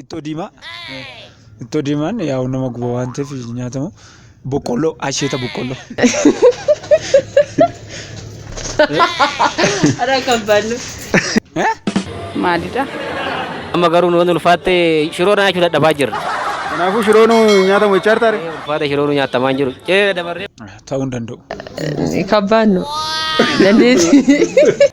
Ittoo diimaa. Ittoo diimaan yaa'u nama guba waan ta'eef hin nyaatamu. Boqqolloo asheeta boqqolloo. Ara kan bannu. Eh? Maalidha? Amma garuu nu ulfaatte shiroo nyaachuu dadhabaa jirra. Kanaafuu shiroon nyaatamu jechaa jirta ree? Ulfaata shiroo nu nyaatamaa hin jiru. Cee dabarree. Ta'uu hin danda'u. Kan bannu. Dandeessi.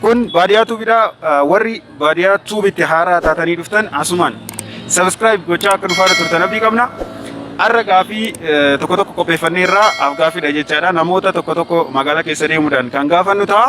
Kun baadiyaa tuubidha. Warri baadiyaa tuubitti haaraa taatanii dhuftan asumaan sabiskiraayib gochaa akka nufaana turtan abdii qabna. Har'a gaafii tokko tokko qopheeffannee irraa af gaafiidha jechaadha. Namoota tokko tokko magaalaa keessa deemuudhaan kan gaafannu ta'a.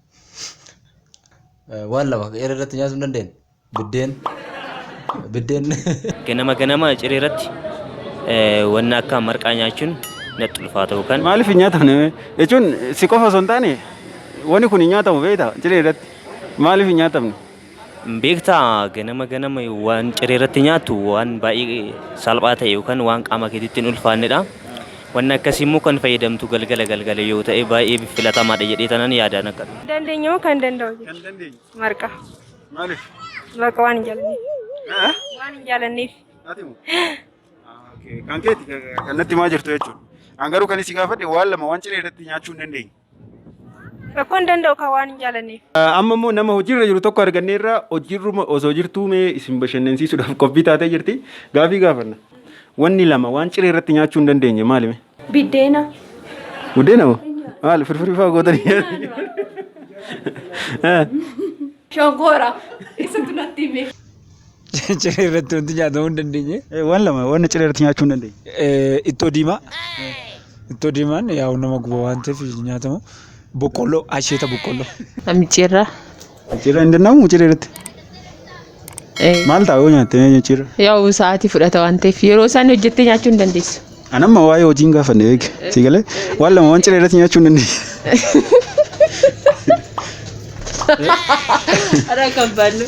Waan lama eera irratti nyaachuu hin dandeenye. Biddeen. Biddeen. Ganama ganama ciree irratti eh, wanna akka marqaa nyaachuun natti ulfaata yookaan Maaliif hin nyaatamne? Jechuun si qofa osoo hin taane wani kun hin nyaatamu beektaa ciree irratti. Maaliif hin nyaatamne? Beektaa ganama ganama waan ciree irratti nyaattu waan baay'ee salphaa ta'e yookaan waan qaama keetitti hin ulfaannedha. Wanni akkasii immoo kan fayyadamtu galgala galgala yoo ta'e baay'ee filatamaadha jedhee tanan yaadaan akka. Dandeenye moo kan danda'u Kan jechuudha? dandeenye. Marqa. Maaliif? Marqa waan hin jaalanneef. Haa? Waan hin jaalanneef. Ati moo? Kan keeti kan natti maa jirtu jechuudha. An garuu kan isin gaafadhe waan lama waan ciree irratti nyaachuu hin dandeenye. Rakkoo hin danda'u kan waan hin jaalanneef. Amma immoo nama hojiirra jiru tokko arganneerra hojiirruma osoo jirtuu mee isin bashannansiisuudhaaf qophii taatee jirti. Gaafii gaafanna. Wanni lama waan ciree irratti nyaachuu hin dandeenye maali mee? Biddeena. Buddeena moo? Maali firfirii fa'aa gootanii nyaatu? Shonkoora. Isatu natti hime. Ciree irratti wanti nyaatamu hin dandeenye. Eh, Waan lama waan ciree irratti nyaachuu hin dandeenye. Eh, Ittoo diimaa. Ittoo diimaan yaa'u nama guba waan ta'eef hin nyaatamu. Boqqolloo, asheeta boqqolloo. Micciirraa. Ciree hin danda'amu ciree irratti. Maal ta'a yoo nyaatte ciree? Yaa'u sa'aatii fudhata waan ta'eef yeroo isaan hojjettee nyaachuu hin dandeessu. An amma waa'ee hojii hin gaafanne beek. Si galee waan lama waan ciree irratti nyaachuu hin dandeenye. Ara kan bannu.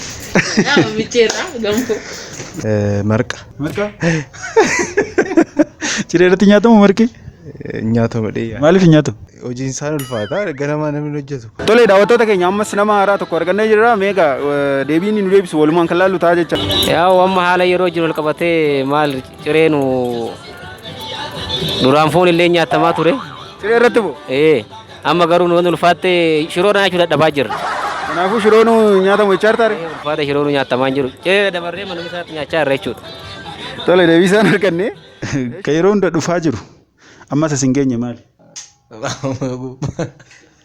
Nama micheerra gamkoo. Marqa Marqa. Ciree irratti nyaatamu marqi. nyaatama dheeyaa. Maaliif hin nyaatu? Hojiin isaan ulfaataa ganamaa namni hin hojjetu. Tolee daawwattoota keenya ammas nama haaraa tokko argannee jirra. Meeqa deebiin nu deebisu walumaan kan laallu ta'a jecha. Yaa amma haala yeroo jiru wal qabatee maal Ciree nu duraan foon illee nyaatamaa ture. Ciree irratti moo? Ee amma garuu nu ulfaattee shiroo nyaachuu dadhabaa jirra. Kanaafuu shiroo nu nyaatamu jechaa jirtaa ree? Ulfaata shiroo nu nyaatamaa hin jiru. Ciree dabarree manuma isaatti nyaachaa jirra jechuudha. Tole deebii isaan arganne. Ka yeroo hunda dhufaa jiru ammas as hin geenye maali?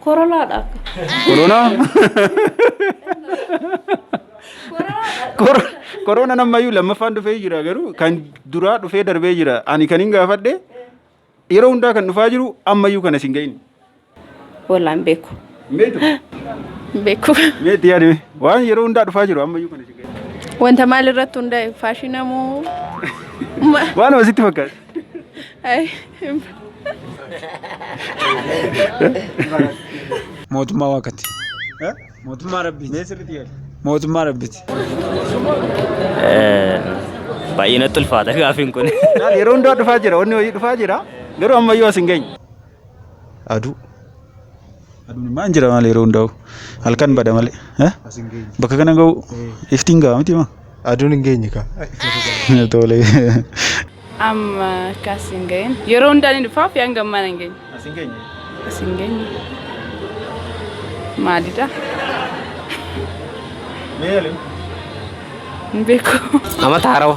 Korolaadha akka. Koronaa? Kor- Koroonaan ammayyuu lammaffaan dhufee jira garuu kan duraa dhufee darbee jira. Ani kan hin gaafadhe yeroo hundaa kan dhufaa jiru ammayyuu kana sin ga'in. Wallaan beeku. Meetu? Beeku. Meetu yaadi mee? Waan yeroo hundaa dhufaa jiru ammayyuu kana sin ga'in. Wanta maal irratti hundaa'e faashina moo? Waan asitti fakkaata. Mootummaa waaqatti. Mootummaa rabbiiti. Mee sirriitti yaadi. Mootummaa rabbiiti. Baay'ee natti ulfaata gaafiin kun. Yeroo hundaa dhufaa jira, wanni wayii dhufaa jira. Garuu ammayyuu as hin geenye. Aduu. Aduun maan jira maal yeroo hundaa'u. Halkan bada malee. Eh? Bakka kana ga'u iftiin ga'a miti maa. Aduun hin geenye kaa. Tole. Amma akkas hin ga'in. Yeroo hundaa ni dhufaaf yaan gammaan hin geenye. As hin geenye. As hin geenye. Maalidha? Mee yaalin. Hin beeku. Amata harawa.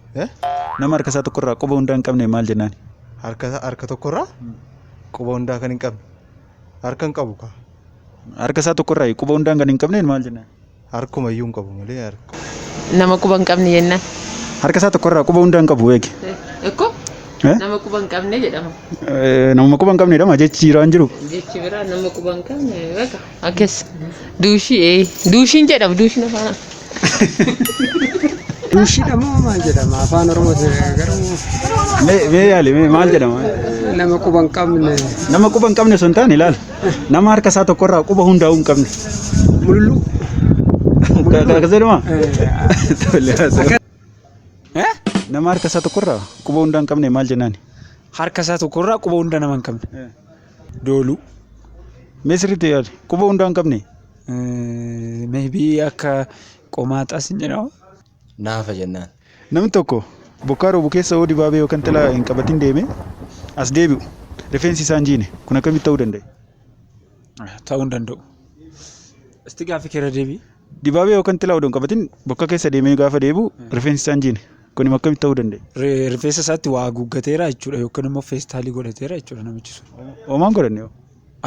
Nama harka isaa tokkorraa quba hundaa hin qabne maal jennaan? Harka isaa harka tokkorraa quba hundaa kan hin qabne harka hin qabu kaa. Harka isaa tokkorraa quba hundaan kan hin qabneen maal jennaan? Harkuma iyyuu hin qabu malee harka. Nama quba hin qabne jennaan. Harka isaa tokkorraa quba hundaan qabu eegi. Ekko Eh? nama quba hin qabne jedhama. Namuma quba hin qabneedha maa jechi jiraa hin jiru. Jechi biraa nama quba hin qabne beeka. Akkas. Duushii ee. Duushiin jedhama duushiin afaan. Duushidha moo maal jedhama afaan oromooti garuu Mee mee yaali mee maal jedhama? nama quba hin qabne Nama quba hin qabne osoo hin taane ilaali. Nama harka isaa tokkorraa quba hundaa'uu hin qabne. mululuu. Akkas jedhama? Tole haa ta'u. Eh? Nama harka isaa tokkorraa quba hundaa hin qabne maal jennaani? Harka isaa tokkorraa quba hunda nama hin qabne. dooluu. Mee sirriitti yaadi. Quba hundaa hin qabne. Maybe akka qomaaxaas hin jedhamu. Naafa jennaan. Namni tokko bokkaa roobu keessa yoo dibaabee yookaan xilaa hin qabatin deeme as deebi'u rifeensi isaa hin jiine kun akkamitti ta'uu danda'e? Ta'uu hin danda'u. Isti gaaffii keerra deebii. Dibaabee yookaan xilaa odoo hin qabatin bokka keessa deemee gaafa deebi'u rifeensi isaa hin jiine. Kun immoo akkamitti ta'uu danda'e? Ri- Rifeensa isaatti waa haguuggateera jechuudha yookiin immoo feestaalii godhateera jechuudha namichi sun. Hoomaan godhanne hoo?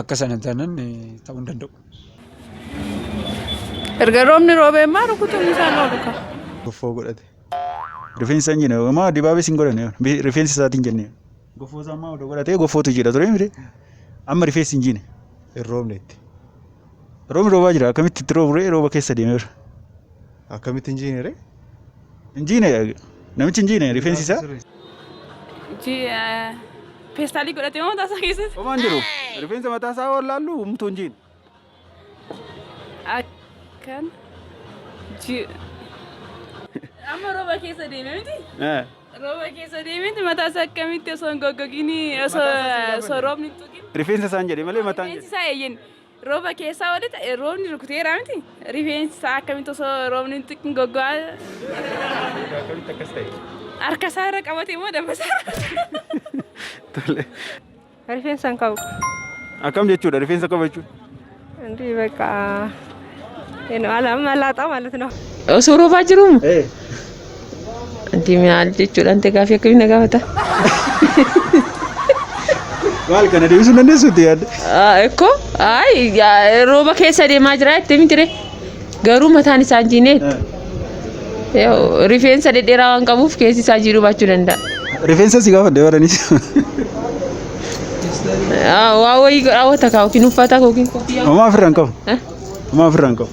Akka sana taanaan eh, ta'uu hin danda'u. Erga roobni roobee immoo rukutuun isaan oolu ka. Goffoo godhate. Rifeensa hin jenne hoomaa dibaabees hin godhanne hoo? Bi- rifeensa isaatiin jenne. Goffoo isaa ammaa odoo godhatee goffootu jira ture miti. Amma rifeensi hin jine. Hin roobnetti. Roobni roobaa jira akkamitti itti roobu ree rooba keessa deemeera. Akkamitti hin jiine ree? Hin jiine namichi hin jiine rifeensi isaa. Peestaalii godhatee mataa isaa keessatti. Homaa hin jiru. Rifeensa mataa isaa waan laallu humtuu hin jiine. Akkan. ji- Amma rooba keessa deeme miti. Eh, Rooba keessa deemeti mataa isaa akkamitti osoo hin goggogini osoo osoo roobni hin tuqin. Rifeensa isaan jedhe malee mataan Rifeensi jedhe. isaa eeyyen Rooba keessaa walitti eh, roobni rukuteera miti. Rifeensi isaa akkamitti osoo roobni hin tuqin goggogaa Akkamitti akkas ta'e? harka isaa irra qabatee moo dabbasaa? Tole. Rifeensa hin qabu. Akkam jechuudha rifeensa qaba jechuudha. Inti bakka. Eno ala malaaxaa ማለት ነው። Osoo roobaa jiruumu? Ati maal jechuudhaan ta'e gaaffii akkamii na gaafata? Maal kana deebisuu hin dandeessu itti yaadde? Ah, Ekkoo ayi yaa- rooba keessa deemaa jira jettee miti ree? Garuu mataan isaa hin jiineet. Yoo rifeensa dhedheeraa waan qabuuf keessi isaa jiidhuu baachuu danda'a. Rifeensa si gaafadhe warranis. Ah, Waa wayii raawwata kaa yookiin uffata koo yookiin koffiyyaa. Homaa ofirraa hin qabu. Eh? Homaa ofirraa hin qabu.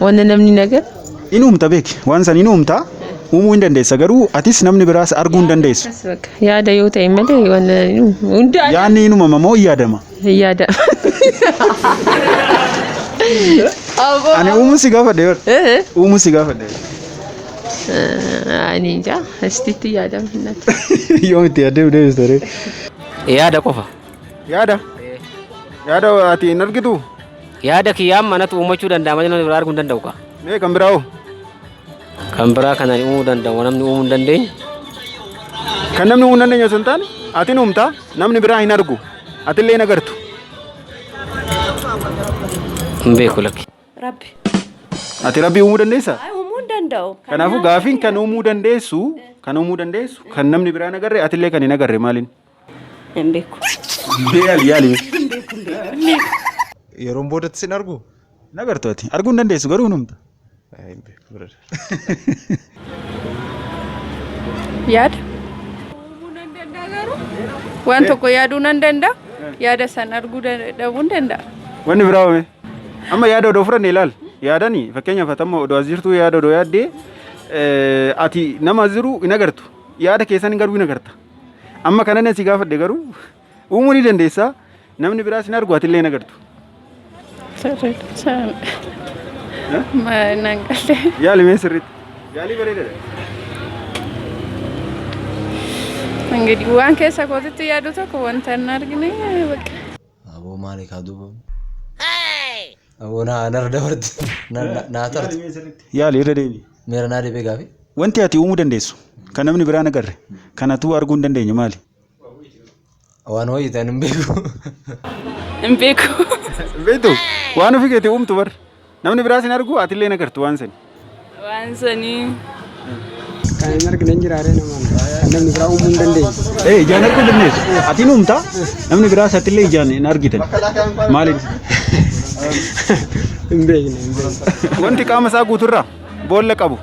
Wanna namni nagar. In uumta beeki. Waan san in uumta. Uumuu hin dandeessa garuu atis namni biraas arguu hin dandeessu. Akkas bakka. Yaada yoo ta'e malee wanna hunda Yaanni in uumama moo in yaadama? yaada. Aboo. Ani uumuu si gaafadhe bar. Eh, Uumuu si gaafadhe. eh, Ani ija asitti yaadama hin naqu. Yoom itti yaadde deebista ree? Yaada qofa. Yaada. Yaada ati hin argitu. Yaada kiyya amma anatu uumachuu danda'a malee namni biraa arguu hin danda'u kaa. Mee kan biraa hoo? Kan biraa kan ani uumuu danda'u namni uumuu hin dandeenye. Kan namni uumuu hin dandeenye osoo hin taane atin uumtaa namni biraa hin argu atillee hin agartu. Hin beeku lakki. Rabbi. Ati rabbii uumuu dandeessaa? Ay, uumuu hin danda'u. Kan Kanaafuu nyaata gaafiin kan uumuu dandeessu kan uumuu dandeessu kan namni biraa hin agarre atillee kan hin agarre maaliin? Hin beeku. Yaali yaali. Hin beeku hin beeku hin beeku. Yeroon boodatti sin argu? Na gartu ati. Arguu hin dandeessu garuu hin humta. Ay, Hin beeku brother. Yaada. Waan tokko yaaduu nan danda'a. Yaada san arguu dan- dhabuu hin danda'a. Wanni biraa home. Amma yaada odoo fudhanne ilaal. Yaadani fakkeenyaaf ati amma odoo as jirtu yaada odoo yaaddee eh, ati nama as jiru hin agartu. Yaada keessan garuu hin agarta. Amma kana nan si gaafadhe garuu uumuu ni dandeessaa namni biraa sin argu atillee hin agartu. Sirriidhaan. Nan galee. Yaali mee sirriitti. Yaalii bareedaadha. Ingidiwwaan keessa kootitti yaadu tokko wanta hin argine bakka. Aboo maali kaa duuba. Aboo naa narra dabarti. Na- na- Naa tarti. Yaali irra deebi. Meera naa deebee gaafi. Wanti ati uumuu dandeessu kan namni biraan agarre kan atuu arguu hin dandeenye maali? Waan wayii ta'an hin beeku. Hin beeku. Beektu waan ofii keetii uumtu bar. Namni biraas hin argu atillee hin agartu waan sani. Waan sanii. Kan hin argine hin jiraaree namaan. Kan namni biraa uumuu hin dandeenye. Ee ijaan arguu dandeessu. Ati hin uumta namni biraas atillee ijaan hin argitan. Maaliin? Hin beekne hin beekne. Wanti qaama isaa guuturraa boolla qabu.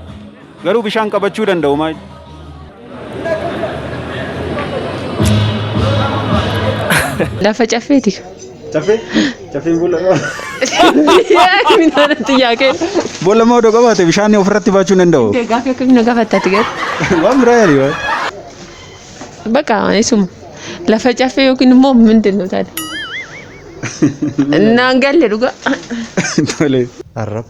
Garuu bishaan qabachuu danda'u maal? Lafa caffeeti. Caffee? Caffeen boolla qaba. Minaaratti yaa kennu. Boolla moo odoo qabaate bishaan ofirratti baachuu hin danda'u? Gaaffii akkamiin na gaafattaati garuu. Waan biraa yaali waan. Bakka isuma. Lafa caffee yookiin immoo mindin nu taate. Naan galle dhugaa. Tole. Arraba.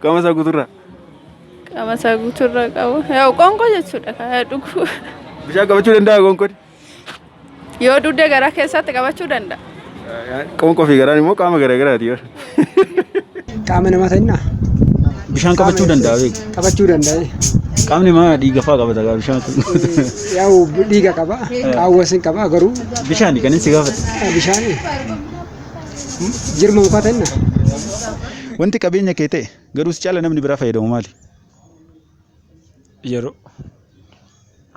Qaama isaa guuturraa. Qaama isaa guuturraa qabu. Yaa qoonqoo jechuudha kan yaa dhuguu. Bishaan qabachuu danda'a qoonqoon. Yoo dugda garaa keessatti qabachuu danda'a. Qoonqoo fi garaan immoo qaama garaa garaati. Qaama namaa ta'inna. Bishaan qabachuu danda'a beeku. Qabachuu danda'a. Qaamni maa dhiiga fa'aa qabata gaa bishaan kun. Yaa'u dhiiga qaba. Qaawwas hin qaba garuu. Bishaan kan inni si gaafate. Bishaan. Jirma mukaa ta'inna. Wanti qabeenya kee ta'e garuu si caala namni biraa fayyadamu maali? Yeroo.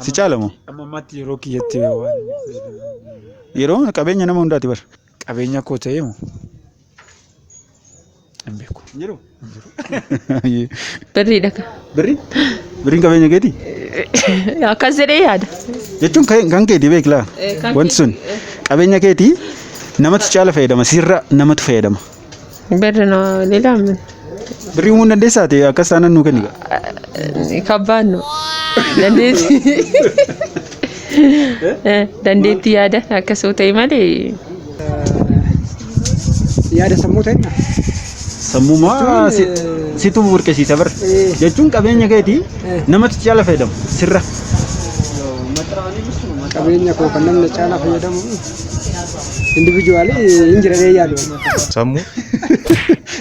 Si caala moo? Amma ammaatti yeroo kiyyatti waan Yeroo qabeenya nama hundaati bar. qabeenya koo ta'ee moo? Hin beeku. Hin jiru? Hin jiru. Ayyee. Birriidha kan. Birri? Birriin qabeenya keeti? Akkas jedhee yaada. Jechuun kan kan keeti beeklaa? Eh, kan Wanti sun qabeenya keeti namatu caala fayyadama sirra namatu fayyadama. Birri na leelaa min. Birrii uumuu hin dandeessaa ta'e akkas taanaan nuu kenni. Kabbaan nu. Dandeetti. Dandeetti yaada akkasoo ta'e malee. yaada sammuu ta'e na. Sammumaa Jechuun, si- eh, situ burqisiisa bar. eh. Jechuun qabeenya keeti Eh. namatti caala fayyadamu sirra. qabeenya koo kan namni caalaa fayyadamu individuwaali hin jiranee yaadu. Sammuu.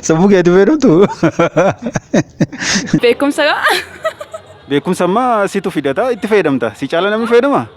Sammuu keeti fayyadamtu. Beekumsa gaa. Beekumsa ammaa situ fidata itti fayyadamta. Si caala namni fayyadama?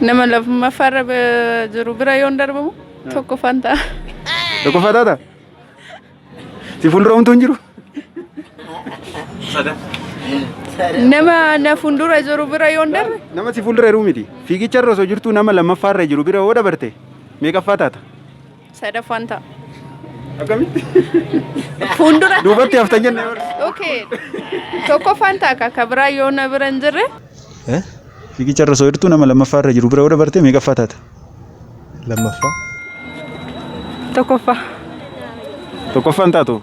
Nama lammaffa irra eh, jiru bira yoon darbamu tokkoffaan ta'a. Tokkoffaa taata? Si fuuldura homtuu hin jiru? Nama na fuuldura jiru bira yoon darbe Nama si fuuldura jiru miti. Fiigicha irra osoo jirtuu nama lammaffaa irra jiru bira yoo dabarte meeqaffaa taata? Sadaffaan ta'a. Akkamitti? Fuuldura. Duubatti haftan jennee bara. Okay. Tokkoffaan ta'a ka ka biraa yoo na bira hin jirre. Fiigicha irra osoo jirtu nama lammaffaa irra jiru bira yoo dabarte meeqaffaa taata? Lammaffaa. Tokkoffaa. Tokkoffaan taatu.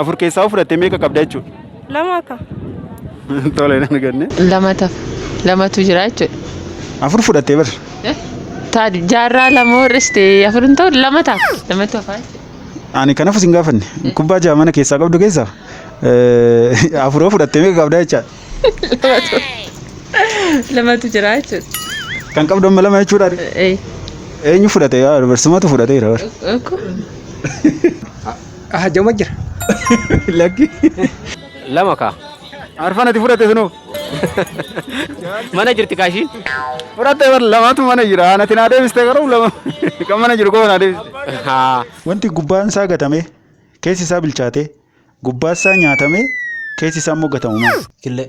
Afur keessaa yoo fudhatte meeqa qabda jechuudha? Lama akka. Tole nan ganne. Lama taf. Lamatu jira jechuudha. Afur fudhattee bar. Taa jaarraa lama warriste afur hin ta'u lama ta'a. Lamatu hafaa jechuudha. Ani kanaaf isin gaafanne. Kubbaa jaha mana keessaa qabdu keessaa eh, afur yoo fudhatte meeqa qabda jechaadha. Lamatu. Lamatu jira jechuudha. Kan qabdu amma lama jechuudha. Ee. Eenyu fudhate? Yaa dubarsummatu fudhateera bar. Oku. Ah, jama jira. Lakki. Lama kaa. Arfan ati fudhate sunoo. Mana jirti kaashiin. Fudhatte bar lamaatu mana jira. Anati naa deebiste garuu lama. Kan mana jiru koo naa deebiste. Haa. Wanti gubbaan isaa gatame keessi isaa bilchaate gubbaa isaa nyaatame keessi isaa immoo gatamu maali? Killee.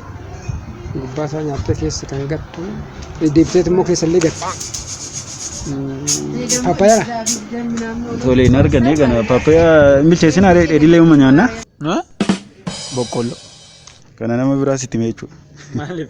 gubbaa isaa nyaattee keessa kan gattu deebiteet immoo keessa illee gatti. Paappayaadha. Tole hin arganne kana paappayaa hin bilcheessin haree dheedhilee uuma nyaanna. Boqqolloo. Kana nama biraa sitti mee jechuudha. Maaliif?